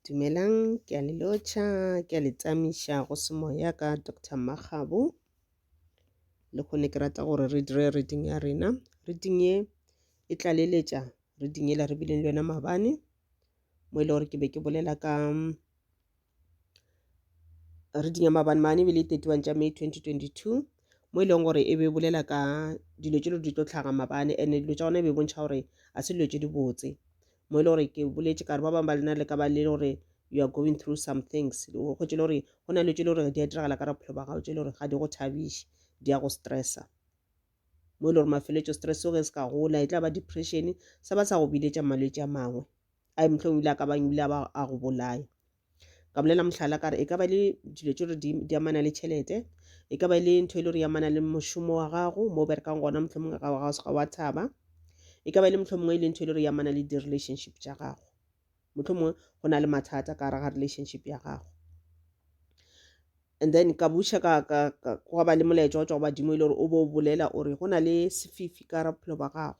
Dumelang, ke a le lotšha, ke a le tsamiša go semoya ka Doctor Makgabo. Le kgone ke rata gore re dire reading ya rena. Reading ye e tlaleletša reading yela re bileng le yona mabane mo e le gore ke be ke bolela ka re dinya mabane mane ebile 31 tša may 2022 mo e leng gore e be bolela ka dilo tše di tlo tlhaga mabane and dilo tša gona e be bontšha gore a se dilo tše di botse mo e le gore ke boletše kare ba bangwe ba lena le ka ba le gore you are going through some things o kgwetse le gore go na le tše le gore di a diragala ka bophelo ba gago tše le gore ga di go thabiše di ya go stressa mo e le gore mafeletšo stress o ge se ka gola e tla ba depression sa ba sa go biletša malwetši a mangwe a e mohlong o ile a ka bang o ile a ba a go bolaya ka bolela mohlala ka re e ka ba le dilo tse gore di amana le tšhelete e ka ba e le ntho e le gore e amana le mošomo wa gago mo o berekang gona mohlho mongwe ga o seka wa thaba e ka ba e le mohlho mongwe e le ntho e le gore e amana le di-relationship tša gago mohlho mongwe go na le mathata ka raga relationship ya gago and then ka buša ka ka ka go ba le molaetša wa tšwa go badimo e le gore o bo o bolela o re go na le sefifi ka ra bophelo ba gago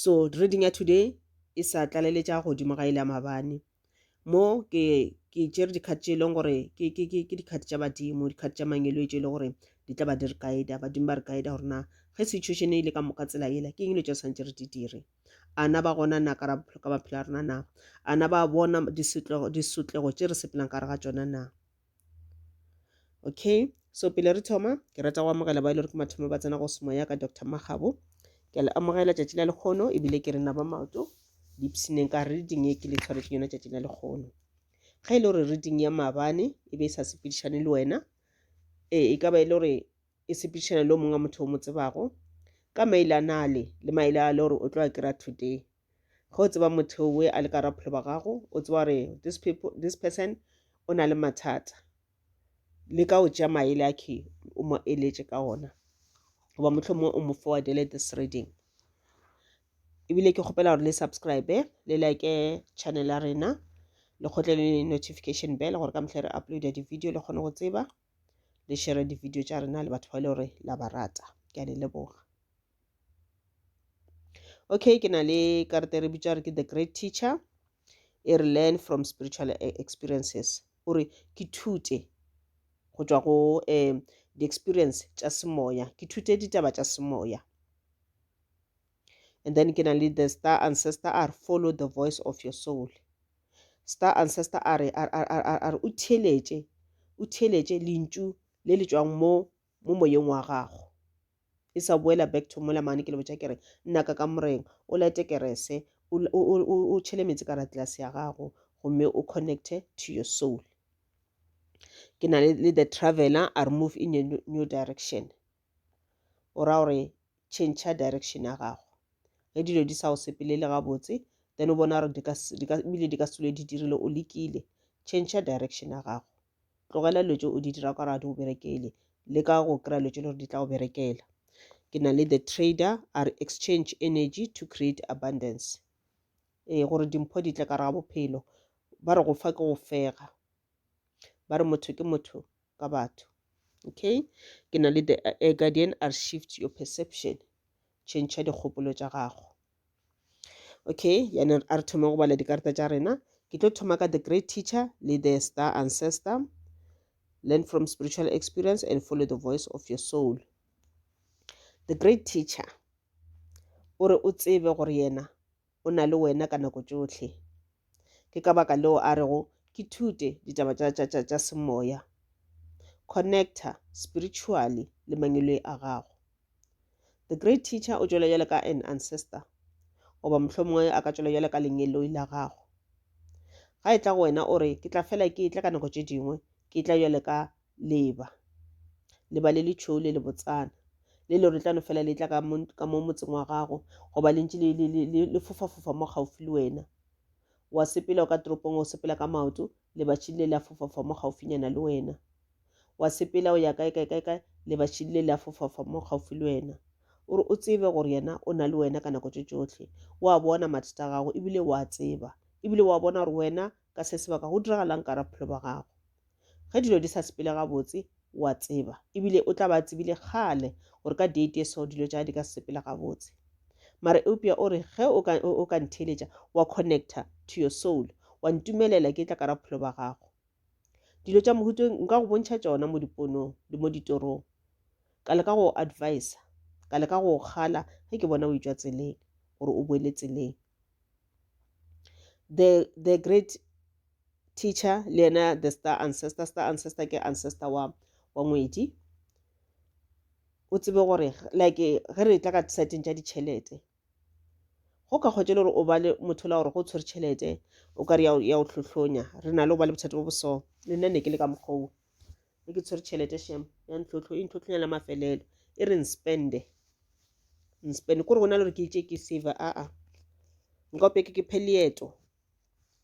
So reading ya today e sa tlaleletša godimo ga ile ya mabane mo ke ke tšere dikgati tše e leng gore ke dikgati tša badimo dikgati tša mangelwetše e le gore di tla ba di re guida badimo ba re guida gore na ge situation e ile ka moka tsela ela ke eng le tša santse re di dire ana ba gona na ka ka maphelo a rona na ana ba bona disotlego tše re sepelang ka re ga tsona na okay so pele re thoma ke rata go amogela ba e le gore ke mathomo ba tsena go semo ya ka dr magabo ke a le amogela tšatši la lekgono ebile ke re naba maoto dipsineng ka reading e ke le tshwaretseng yona tšatši la lekgono ge e le gore reading ya maabane e be e sa sepedišane le wena ee e ka ba e le gore e sepedišana le o mongwe motho o mo tsebago ka maele a nale le maele a le gore o tlo a kry-a today ge o tseba motho we a le ka rapholo ba gago o tseba gore this, people, this person o na le mathata le ka o tšea maele a khe o mo eletše ka ona goba motlho mongwe o mo forwardele this reading ebile ke kgopela gore le subscribe le like channel ya rena le kgotle le notification bell gore ka mehla re uploada di-video le kgone go tseba le shere di-video tša rena le batho ba le gore la ba rata ke a le leboga okay ke na le karate re bitsa re ke the great teacher e re learn from spiritual e-, experiences o re ke thute go tšwa go um di-experience tša semoya ke thute ditaba tša semoya and then ke na le the star ancestor a re follow the voice of your soul star ancestor a re a re o theletše o theletše lentšu le le tšwang mo mo moyeng wa gago e sa boela back to mola mane ke le botša ke re nna ka ka moreng o lete kerese o tšhele metsi ka ratlelase ya gago gomme o connecte to your soul ke na le the traveler a re move in a new direction o ra gore change direction ya gago ge dilo di sa go sepelele gabotse then o bona gore ebile di ka se dule di dirile o lekile change direction ya gago tlogela dilo tse o di dira ka gore ga di go berekele le ka go kry-a dilo tse le gore di tla go berekela ke na le the trader a re exchange energy to create abundance ee gore dimpho di tle ka re ga bophelo ba re go fa ke go fega ba re motho ke motho ka batho okay ke na le the uh, guardian are shift your perception change dikgopolo tša gago okay yana a re thoma go bala dikarata tša rena ke tlo thoma ka the great teacher le the star ancestor learn from spiritual experience and follow the voice of your soul the great teacher o re o tsebe gore yena o na le wena ka nako tšohle. Ke ka baka leo a rego ke thute ditaba tša, tša, tša, tša semoya. Connecta spiritually le mangweloi a gago. The great teacher o tšwela bjale ka an ancestor, goba mohlomongwe a ka tšwela bjale ka lengeloi la gago. Ga e tla go wena o re, Ke tla fela ke etla ka nako tše dingwe, ke etla bjale ka leba leba le letšhou le le botsana le le gore tla no fela le tla ka mo motseng wa gago goba le ntse le fofafofa mo gaufi le wena wa sepela o ka toropong o sepela ka maoto lebatšhing le la fofafofa mo gaufinyana le wena wa sepela o ya kae kae kae kae lebatšhing le la fofafofa mo gaufi le wena ore o tsebe gore yena o na le wena ka nako tše tšohle wa bona mathata a gago ebile wa tseba ebile wa bona gore wena Ka se sebaka go diragalang ka rabophelo ba gago? Ge dilo di sa sepele gabotse, o a tseba, e bile o tla ba a tsebile kgale gore ka date e so dilo tša di ka se sepele gabotse. Mare eupša o re, Ge o ka, o ka ntheeletša, wa connecta to your soul, wa ntumelela ke tla ka rabophelo ba gago. Dilo tša mohuta o nka go bontšha tšona mo diponong le mo ditorong. Ka leka go o advisa, ka leka go o kgala ge ke bona o e tšwa tseleng, gore o boele tseleng. the the great teacher le yena the star ancestor star ancestor ke ancestor wa wa ngwedi o tsebe gore like ge re tla ka seteng tša ditšhelete go ka kgwetša le gore o ba le motho la gore go tshwere tšhelete o ka re ya o tlhotlhonya re na le go ba le bothata bo boso le nna ne ke le ka mokgwa e ke tshwere tšhelete shem ya ntlhotlho e ntlhotlhonya la mafelelo e re nspende nspende kore go na le gore ke itse ke save aa nka ope ke ke phe leeto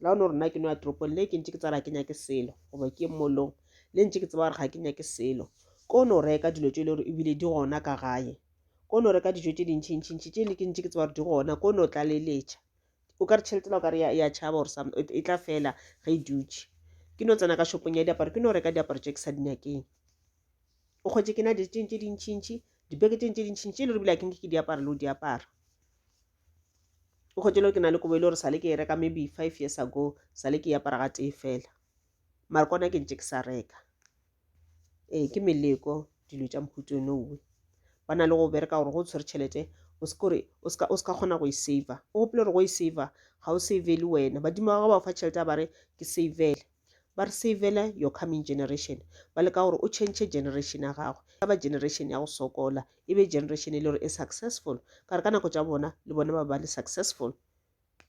la one gore nna ke no ya toropong le ke ntse ke tsara ke nyake selo goba ke molong le ntse ke tseba gore ga ke nyake selo ko no reka dilo tse e le gore ebile di gona ka gae ko no reka dijo tse dintšhintšhintšhi tse le ke ntse ke tseba gore di gona ko no tlaleletša o ka re tšhelete la o ka re ya tšhaba or some e tla fela ge e dutše ke no tsena ka shopong ya diaparo ke no reka diaparo tše ke sa dinyakeng o kgwetse ke na di teng tše dintšintši dibeke teng tše dintšintši e le re bile a ke nke ke diaparo le o diaparo o kgwetse le ke na le kobo e le gore sale ke e reka maybe five years ago sale ke e apara ga tee fela mara kona ke ntše ke sa reka ee ke meleko dilo tša mphutso nowe ba na le go bereka gore go tshwere tšhelete o se kore o se ka kgona go e saver o gopele gore go e saver ga o savele wena badimo ba gago ba fa tšhelete a ba re ke savele ba re savele your coming generation ba leka gore o change generation ya gago ya ba generation ya go sokola e be generation e le gore e successful ka re ka nako tša bona le bona ba ba le successful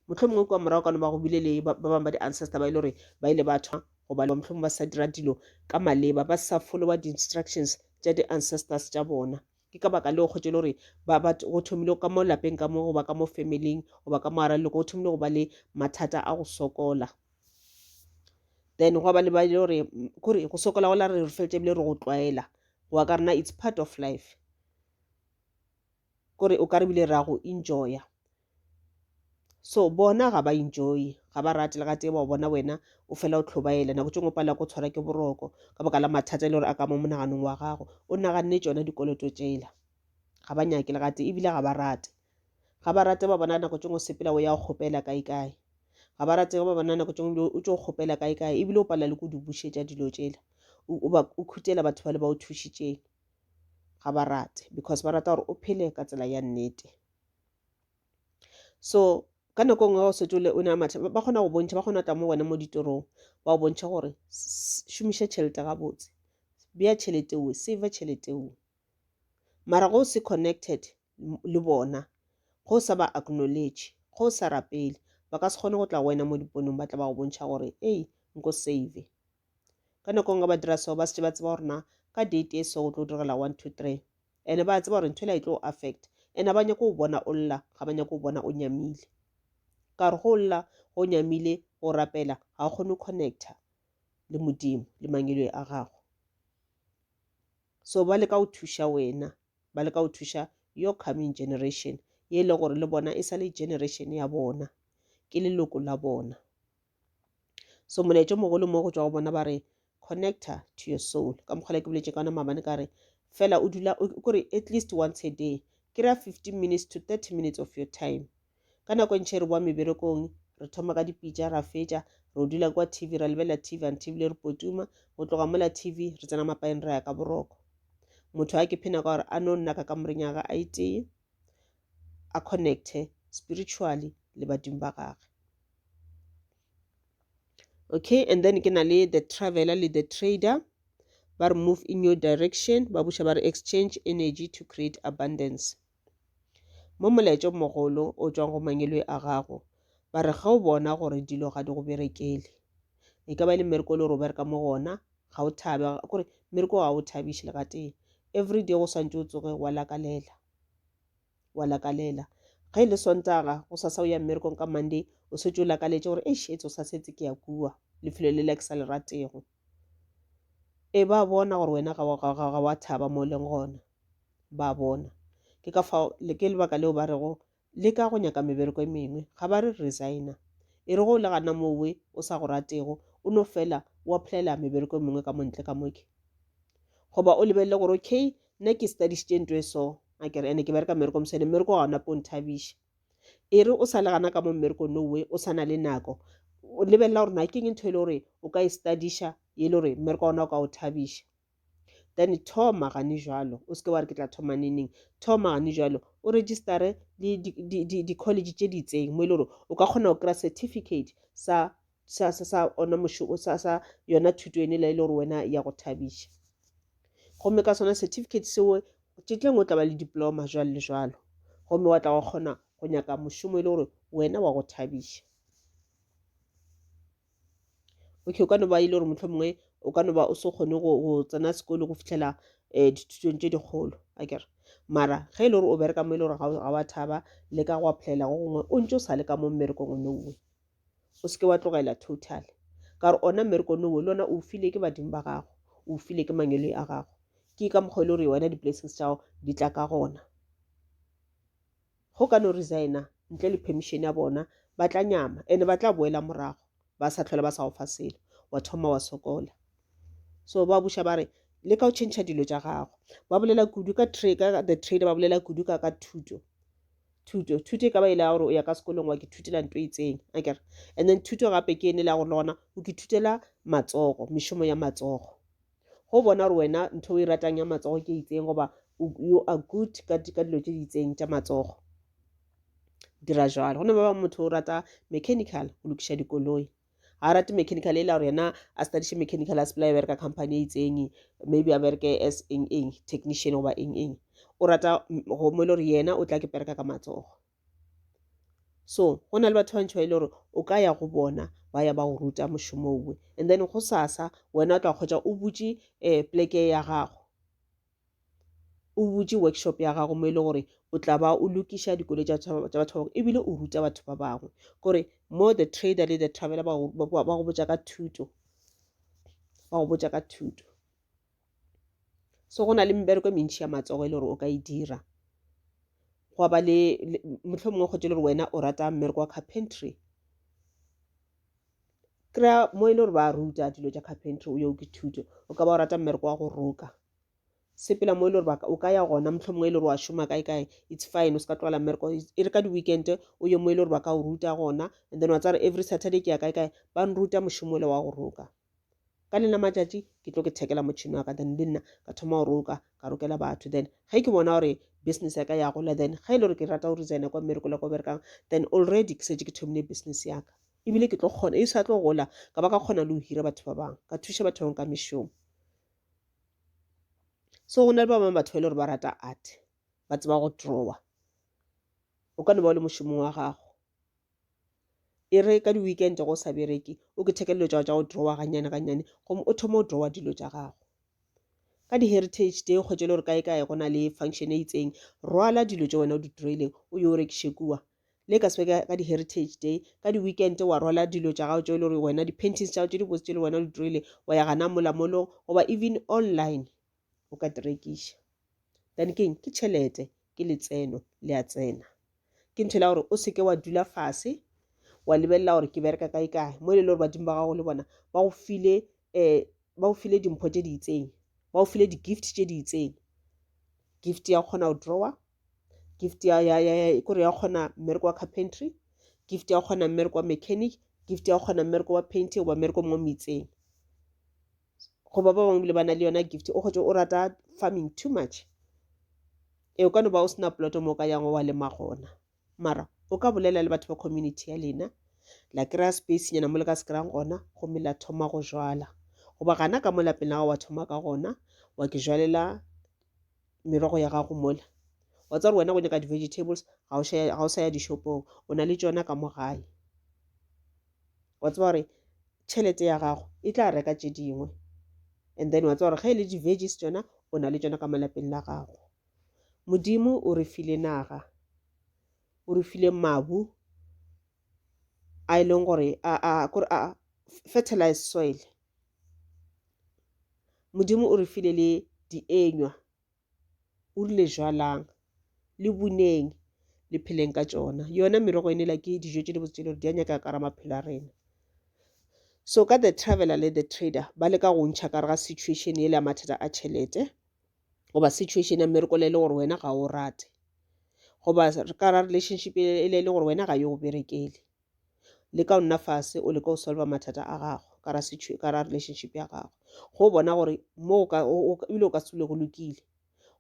mohlomongwe kua morago ka no ba go bile le ba bangwe ba di-ancestor ba e le gore ba ile ba thwa goba mohlomongwe ba sa dira dilo ka maleba ba sa followa di-instructions tša di-ancestors tša bona ke ka baka leo kgotse le gore go thomile ka mo lapeng ka mo goba ka mo familing goba ka mo ara leloko go thomile go ba le mathata a go sokola then go ba le ba ile gore kore go sokola go la re re feletse ebile re go tlwaela go wa ka rena it's part of life kore o ka re bile ra go enjoya so bona ga ba enjoy ga ba rate le ga tee ba bona wena o fela o tlhobaela nako tšengwe pala ko tshwara ke boroko ka baka la mathata e le gore a ka mo monaganong wa gago o naganne tšona dikoloto tšela ga ba nyake le ga tee ebile ga ba rate ga ba rate ba bona nako tšengwe sepela o ya go kgopela kae kae ga ba rate ba bona nako tšengwe o tšo kgopela kae kae ebile o pala le ko di bušetša dilo tšela o khutela batho ba le ba o thušitšeng ga ba rate because ba rata gore o phele ka tsela ya nnete so ka nako nngwe o setse o ne a matlha ba kgona go bontšha ba kgona tla mo wena mo ditorong ba o bontšha gore šomiša tšhelete gabotse bea tšhelete o save tšhelete o mara go se connected le bona ge o sa ba acknowledge ge o sa rapele ba ka se kgone go tla go wena mo diponong ba tla ba go bontšha gore ei nko save ka nako nngwe ba dira seo ba setse ba tseba gore na ka date e so go tlo direla one two three ene ba tseba gore ntho e la e tlo affect ene ba nyako go bona o lla ga ba nyako go bona o nyamile ka re go lla go nyamile go rapela ga o kgone connecta le modimo le mangelo a gago so ba le ka go thuša wena ba leka go thuša your coming generation ye e le gore le bona e sa le generation ya bona ke leloko la bona so molaetšo mogolo mo go tswa go bona ba re connector to your soul ka mokgwale ke boletse ka ona mabane ka re fela o dula kore at least once a day kry-a fifteen minutes to thirty minutes of your time Ka nako e ntši re boa meberekong, re thoma ka dipitša, ra fetša, re o dula kwa TV, ra lebelela TV until ebile re potuma, go tloga mola TV, re tsena mapaeng ra ya ka boroko. Motho a ke phena ka gore a no nna ka kamoreng ya ga a itee, a connecte spiritually le badimo ba gage. Okay, and then ke na le the traveler le the trader ba re move in your direction ba buša ba re exchange energy to create abundance. Mo molaetšong mogolo o tšwang go mangilwe a gago, ba re ge o bona gore dilo ga di go berekele, e ka ba e le mmereko le gore o bereka mo gona, ga o thabe kore mmereko ga o thabiše le gatee. Every day go swantše o tsoge wa lakalela, wa lakalela. Ge e le Sontaga go sa sa o ya mmerekong ka Monday o setse o lakaletše gore eish etse o sa setse ke ya kua lefelo le la ke sa le ratego. Ee, ba bona gore wena ga wa thaba mo leng gona, ba bona. Ke ka fao ke lebaka leo ba rego le ka go nyaka mebereko e mengwe ga ba re resigna e re go le gana mowe o sa go ratego o no fela o applyela mebereko e mengwe ka montle ka moke goba o lebelele gore okay nna ke studišitše nto e so a kere ene ke bereka mmereko mosene mmereko ga ona po nthabiša e re o sa le gana ka mo mmereko no we o sa na le nako o lebelela gore na keng ntho e le gore o ka e studiša e le gore mmereko ona o ka o thabiša then thoma gane jalo o seke wa re ke tla thoma neneng thoma gane jalo o registare le di-college tše ditseng mo e le gore o ka kgona go kry-a certificate sa sa sa sa ona mošomo sa sa yona thuto ene la ile gore wena ya go thabiša gomme ka sona certificate seo tšetleng o tla ba le diploma jwalo le jwalo gomme wa tla go kgona go nyaka mošomo e le gore wena wa go thabiša okay o ka no ba ile gore motlho mongwe o ka no ba o se kgone go tsena sekolo go fitlhela um dithutong tse dikgolo a kere mara ge e le gore o bereka mo e le gore ga wa thaba le ka go applyela go gongwe o ntse o sa le ka mo mmerekong o nongwe o seke wa tlogela total ka gore ona mmereko nowo le ona o file ke badimo ba gago o file ke mangweloi a gago ke ka mokgwa e le gore wena di-blessings tša gago di tla ka gona go ka no resigna ntle le permission ya bona ba tla nyama ene ba tla boela morago ba sa tlhola ba sa go fa selo wa thoma wa sokola so ba buša ba re le ka go change dilo tša gago ba bolela kudu ka the trade ba bolela kudu ka ka thuto thuto thuto e ka ba e le ya gore o ya ka sekolong wa ke thutela nto itseng a kere and then thuto gape ke ene le ya gore le gona o ke thutela matsogo mešomo ya matsogo go bona gore wena ntho o e ratang ya matsogo ke itseng goba you are good ka dilo tse di itseng tša matsogo dira jalo go ne ba ba motho o rata mechanical go lokiša dikoloi ga rate mechanical e la gore yena a studiše mechanical a sepela ya bereka company e itseng maybe a bereke as eng eng technician goba eng eng o rata go mo e le gore yena o tla ke bereka ka matsogo so go na le batho ba ntšho e le gore o ka ya go bona ba ya ba go ruta mošomo owe and then go sasa wena o tla kgwetsa o butše um eh, pleke ya gago o butše workshop ya gago mo e le gore o tla ba o lokiša dikolo tša batho ba bangwe ebile o ruta batho ba bangwe kore mo the trader le the traveler ba go botša ka thuto ba go botša ka thuto so go na le mebereko e mentšhi ya matsogo e le gore o ka e dira gwa ba le motlho mongwe kgotse le gore wena o rata mmereko wa carpentry kry-a mo e le gore ba ruta dilo tša carpentry o yo ke thuto o ka ba o rata mmereko wa go roka sepela mo e le gore o ka ya gona motlho mongwe e le gore wa šoma kae kae it's fine o se ka tlogela mmereko e re ka di-weekend o ye mo e le gore ba ka o ruta gona and then wa tsare every saturday ke ya kae kae ba nruta mošomo le wa go roka ka lena matšatši ke tlo ke thekela motšhini wa ka then le nna ka thoma go roka ka rokela batho then ge ke bona gore business ya ka ya gola then ge e le gore ke rata go resigna kwa mmerekola kwa berekang then already ke setse ke thomile business ya ka ebile ke tlo kgona e sa tlo gola ka ba ka kgona le go hira batho ba bangwe ka thuša batho bangwe ka mešomo so go na le ba bangwe batho ba e le gore ba rata art ba tseba go drawer o ka no ba o le mošomong wa gago e re ka di-weekend go sa bereke o ke thekele dilo tsa go drawa ganyane ganyane gomme o thoma o drawa dilo tsa gago ka di-heritage day kgwetse le gore kae kae go na le function e itseng rwala dilo tse wena o di draileng o yo rekiše kua le ka sebe ka di-heritage day ka di-weekend wa rwala dilo tsa gago tse le gore wena di-paintings tsa gago tse di botse tse le wena o di draileng wa ya gana molamolong goba even online o ka tirekiša then keng ke tšhelete ke letseno le a tsena ke ntho la gore o seke wa dula fase wa lebelela gore ke bereka kae kae mo e le gore badimo ba gago le bona ba go file um ba go file dimpho tse di itseng ba go file di-gift tse di itseng gift ya kgona go drawer gift ya ya ya kore ya kgona mmereko wa carpentry gift ya kgona mmereko wa mechanic gift ya kgona mmereko wa painting goba mmereko mongwe mo itseng goba ba bangwe bile ba na le yona gift o kgotse o rata farming too much e o ka no ba o sena ploto mo o ka yango wa lema gona mara o ka bolela le batho ba community ya lena la kry-a space nyana mo le ka se kry-ang gona gomme la thoma go jala goba gana ka mo lapeng la gago wa thoma ka gona wa ke jwalela merogo ya gago mola wa tsa gore wena go nyaka di-vegetables ga o sa ya dishopong o na le tsona ka mo gae wa tseba gore tšhelete ya gago e tla reka tše dingwe and then wa tseba gore ge e le di-veggies tsona o na le tsona ka malapeng la gago modimo o re file naga o re file mabu a e leng gore a fertilize soil modimo o re file le dienywa O rile, Jwalang, le buneng, le pheleng ka tšona. Yona merogo e nela ke dijo tše di botse tše le gore di a nyaka ka ra maphelo a rena. So ka the traveler le the trader ba le ka go ntšha ka re ga situation e le ya mathata a tšhelete goba situation ya mmereko le e le gore wena ga o rate goba ka ra relationship e le e le gore wena ga yo go berekele. le ka o nna fase o leka go solva mathata a gago ka ra situ- ka ra relationship ya gago go bona gore mo o ka- o- o ka- ebile o ka se dule go lokile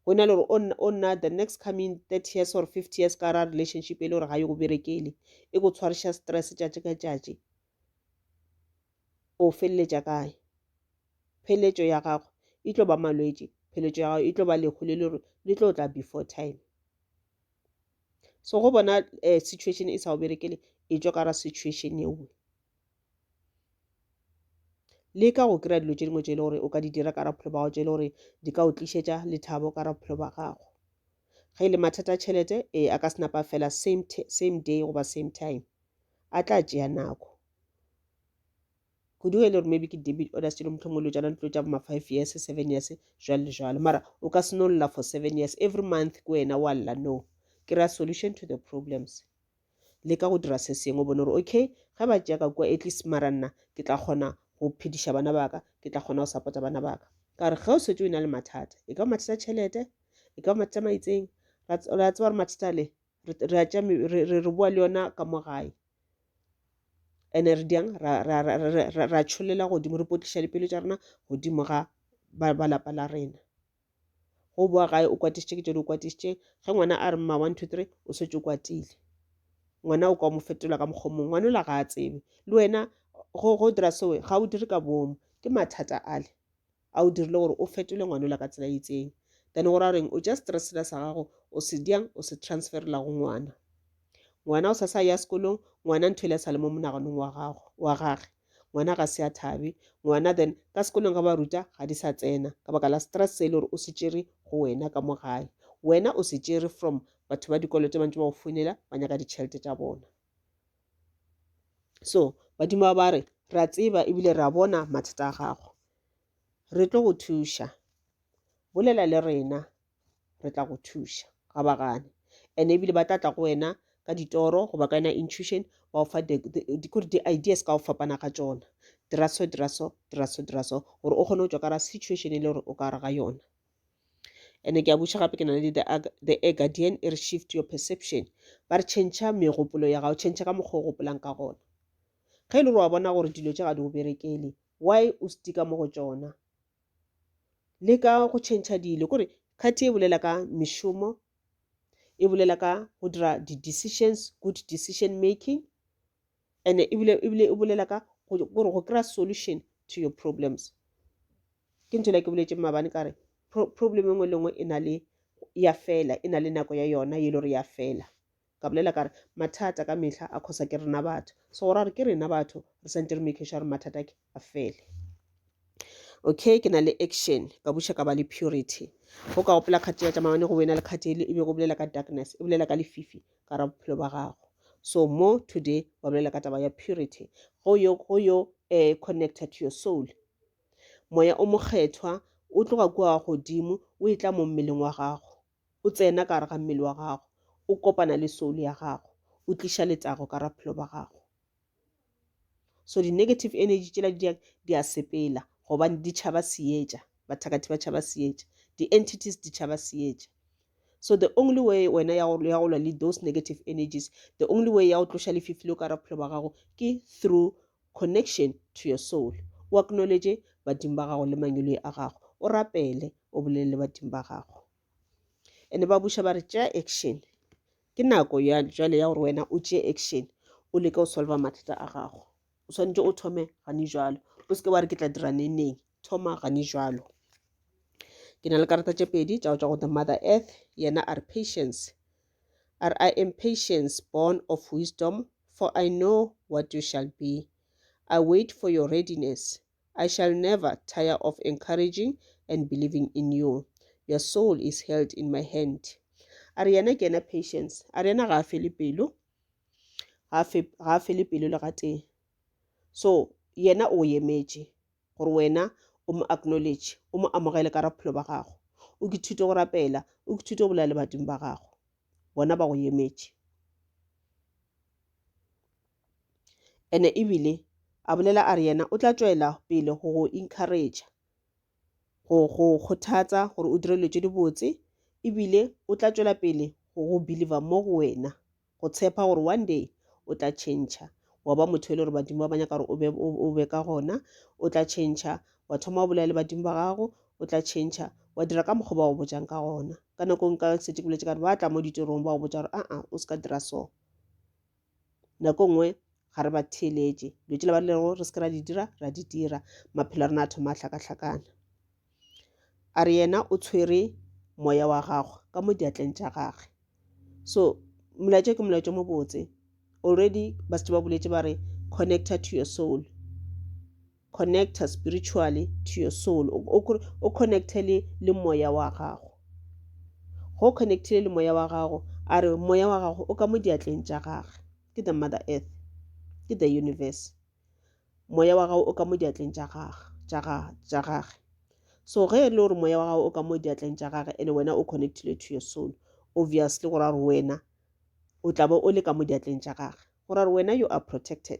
go na le gore o nna- o nna the next coming thirty years or fifty years ka ra relationship e le gore ga yo go berekele e go tshwariša stress tšatši ka tšatši o feleletša kae pheletšo ya gago e tlo ba malwetši pheletšo ya gago e tlo ba lehu le le gore le tlo tla before time so go bona uh, situation e sa go berekele e tšwa ka ra situation eo le ka go kry-a dilo tše dingwe tše e le gore o ka di dira ka raphelo ba gago tše e le gore di ka o tlišetša lethabo ka raphelo ba gago ge e le mathata tšhelete ee a ka senapa fela same, same day goba same time a tla tšea nako kudu ge e le gore maybe ke debit orders tšelo motlhong o lo tsana dilo tša boma five years seven years jwalo le jwalo mara o ka seno lla for seven years every month ke wena wa lla no ke ra solution to the problems le ka go dira se sengwe o bone gore okay ge ba tšea ka kua at least mara nna ke tla kgona go phediša bana baka ke tla kgona go support bana baka ka gore ge o setse o na le mathata e ka ba mathata tšhelete e ka ba mathata maitseng ra tseba gore mathata le re a tša re boa le yona ka mo gae and re di yang ra tšholela godimo re potliša dipelo tša rena godimo ga ba lapa la rena go boa gae o kwatišitše ke tšone o kwatišitše ge ngwana a re mma one two three o setse o kwatile ngwana o ka mo fetola ka mokgwa mongwe ngwana o la ga a tsebe le wena go dira sewe ga o dire ka bomo ke mathata ale a o dirile gore o fetole ngwanola ka tsela itseng then go ra goreng o tša stresela sa gago o se dyang o se transferela go ngwana ngwana o sa sa ya sekolong ngwana ntho ele sa le mo monaganong wa gago wa gage ngwana ga se a thabe ngwana then ka sekolong ga ba ruta ga di sa tsena ka baka la stress se e le gore o se tšere go wena ka mo gae wena o se tšere from batho ba dikoloto ba ntse ba go founela ba nyaka ditšhelete tša bona so badimo ba ba re re a tseba ebile re a bona mathata a gago re tlo go thuša bolela le rena re tla go thuša ga ba gane and ebile ba tla tla go wena ka ditoro goba ka yona intuition ba ofa kore di-ideas ka go fapana ga tsona dira so dira so dira so dira so gore o kgone go tswa ka ra situation e le gore o ka re ga yona ene ke a buša gape ke na le the air guardian e re shift your perception ba re tšhentšha megopolo ya gago tšhentšha ka mokgwa o gopolang ka gona ge e le gore wa bona gore dilo tše ga di go berekele why o stika mo go tšona le ka go tšhentšha dilo kore kgati e bolela ka mešomo e bolela ka go dira di-decisions good decision making and e bile e bile e bolela ka gore go kry-a solution to your problems ke ntho le ke boletse mabane ka re problem e nngwe le nngwe e na le ya fela e na le nako ya yona e le gore ya fela ka bolela ka re mathata ka mehla a khosa ke rena batho so go ra gore ke rena batho re santse re make sure re mathata ke a fele okay ke na le action ka buša ka ba le purity go ka gopola kgati ya tšamane go wena le kgati e be go bolela ka darkness e bolela ka lefifi ka ra bophelo ba gago so mo today ba bolela ka taba ya purity go yo go yo um connected to your soul moya o mokgethwa o tloga kua wa godimo o e tla mo mmeleng wa gago o tsena ka gare ga mmele wa gago o kopana le soul ya gago o tliša letago ka ra bophelo ba gago so di-negative energy tšela di di a sepela gobane di tšhaba seetša bathakathi ba tšhaba seetša di-entities di tšhaba seetša so the only way wena ya go lwa le those negative energies the only way ya go tloša lefifi le o ka ra bophelo ba gago ke through connection to your soul o acknowledge badimo ba gago le mangweloi a gago o rapele o bolele le badimo ba gago ene ba buša ba re tšea action ke nako ya jwale ya gore wena o tšee action o leke go solva mathata a gago o swanetše o thome gane jalo o seke wa re ke tla dira neneng thoma gane jalo ke na le karata tše pedi tša go tšwa go the mother earth yena a re patience a re i am patience born of wisdom for i know what you shall be i wait for your readiness I shall never tire of encouraging and believing in you. Your soul is held in my hand. A re yena ke yena Patience. A re yena ga a fele pelo. Ga a fele pelo le gatee. So yena o emetše gore wena o mo acknowledge o mo amogele ka raphelo ba gago o ke thute go rapela o ke thute go bolela le badimo ba gago bona ba go emetše ene ebile a bolela a re yena o tla tšwela pele go go encourage go go kgothatsa gore o dire dilo tše dibotse ebile o tla tšwela pele go go believer mo go wena go tshepa gore one day o tla change wa ba motho e le gore badimo ba ba nyaka gore o be ka gona o tla change wa thoma o bolela le badimo ba gago o tla change wa dira ka mokgwa ba go bojang ka gona ka nako nka setse ke boletse ka gore ba tla mo ditirong ba go botsa gore aa o se ka dira so nako nngwe ga re ba theeletše dilo tšela ba lego re se ke ra di dira ra di dira maphelo a rena a thoma a hlakahlakana a re yena o tshwere moya wa gagwe ka mo diatleng tša gagwe so molaetša ke molaetša mo botse already ba setse ba boletse ba re connected to your soul connecta spiritually to your soul o connecte le le moya wa gago go connectile le moya wa gago a re moya wa gago o ka mo diatleng tša gage ke the mother earth ke the universe moya wa gago o ka mo diatleng tša gage tša gage so ge e le gore moya wa gago o ka mo diatleng tša gage ene wena o connectile to your soul obviously go ra gore wena o tla be o le ka mo diatleng tša gage go ra gore wena you are protected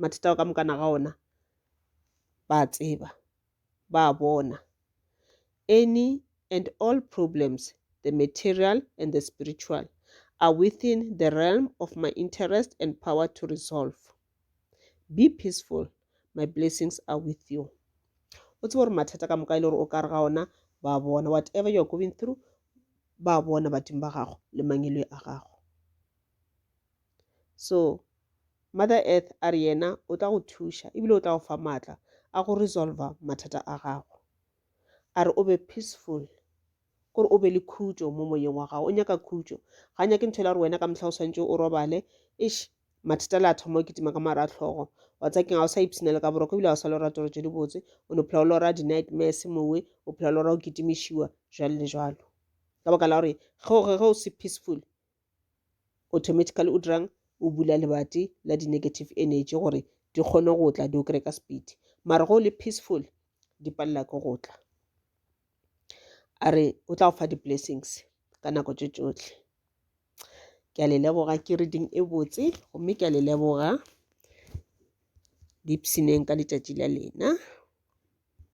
mathata ao ka mokana ga ona ba a tseba ba a bona any and all problems the material and the spiritual are within the realm of my interest and power to resolve be peaceful my blessings are with you o tsebe gore mathata ka moka e le gore o ka re ga ona ba bona whatever you're going through ba bona badimo ba gago le mangelo a gago so mother earth a re yena o tla go thuša ebile o tla go fa maatla a go resolva mathata a gago a re o be peaceful kore o be le khutšo mo moyeng wa gago o nyaka khutšo ga nyake ntho e la gore wena ka mohla o swantse o robale ish mathata le a thoma o kitima ka mara tlhogo wa tsa keng ga o sa ipsina le ka boroko ebile ga o sa lora toro tse dibotse o ne phela o lora di-nightmares mowe o phela o lora o kitimišiwa jalo le jalo ka baka la gore ge o se peaceful automatically o dirang o bula lebati la di-negative energy gore di kgone go tla di o kry ka speed mara go le peaceful di palela ke go tla a re o tla go fa di-blessings ka nako tše tšohle ke a le leboga ke reading e botse gomme ke a le leboga dipsineng ka letšatši la lena